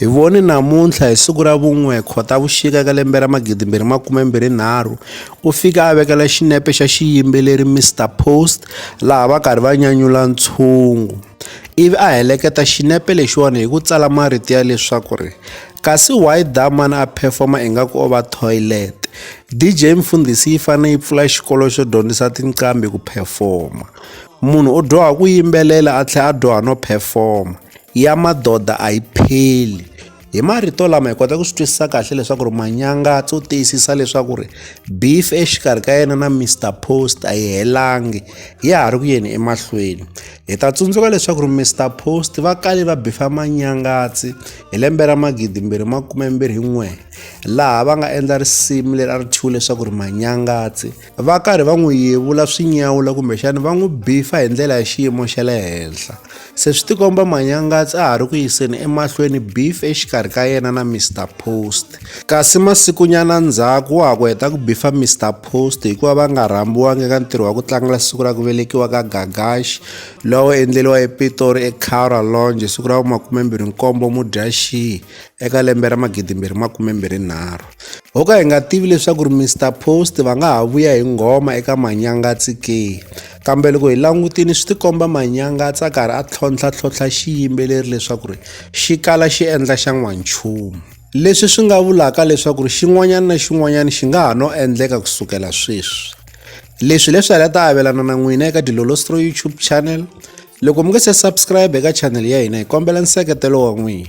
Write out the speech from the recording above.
Hi vone namuntlha hi siku ra vun'we Khotavuxika ka lembe ra 2023 u fike a vekela xinepe xa xiyimbeleri Mister Post laha va karhi va nyanyula ntshungu ivi a heleketa xinepe lexiwani hi ku tsala marito ya leswaku ri kasi why da man a performa ingaku o va toilet DJ Mfundhisi yi fane yi pfula xikolo xo dyondzisa tinqambi ku performa munhu u dyoha ku yimbelela a tlhela a dyoha no performa ya madoda a yi pheli hi marito lama hi kota ku swi twisisa kahle leswaku ri manyanga tso tiyisisa leswaku ri beef exikarhi ka yena na mr post a yi helangi ya ha ri ku yeni emahlweni hi ta tsundzuka leswaku ri mr post va kale va bifa manyangatsi hi lembe ra magidi mbirhi makume mbirhi n'we laha va nga endla risimu leri a ri thyiwe leswaku ri manyangatsi va karhi va n'wi yevula swi nyawula kumbexana va n'wi bifa hi ndlela ya xiyimo xa le henhla se swi tikomba manyangatsi a ha ri ku yiseni emahlweni beef exikarhi ka yena na mr post kasi masikunyana ndzhaku wa ha ku heta ku bifa mr post hikuva va nga rhambiwangi eka ntirho wa ku tlangela siku ra ku velekiwa ka gagash lowo endleriwa epitori ecara longe siku ra vumakumembirhi nkombo mudyaxihi eka lembe ra magidimbirhi makumembirhi nharhu ho ka hi nga tivi leswaku ri mr post va nga ha vuya hi nghoma eka manyangatsi ke kambe loko hi langutini swi tikomba manyangatsi a karhi a tlhontlhatlhontlha xiyimbeleri leswaku ri xi kala xi endla xa n'wanchumu leswi swi nga vulaka leswaku ri xin'wanyana na xin'wanyana xi nga ha no endleka ku sukela sweswi leswi leswi ala ta avelana na n'wina eka dilolostro youtube channel loko mi nga se subscribe eka channel ya hina hi kombela nseketelo wa n'wina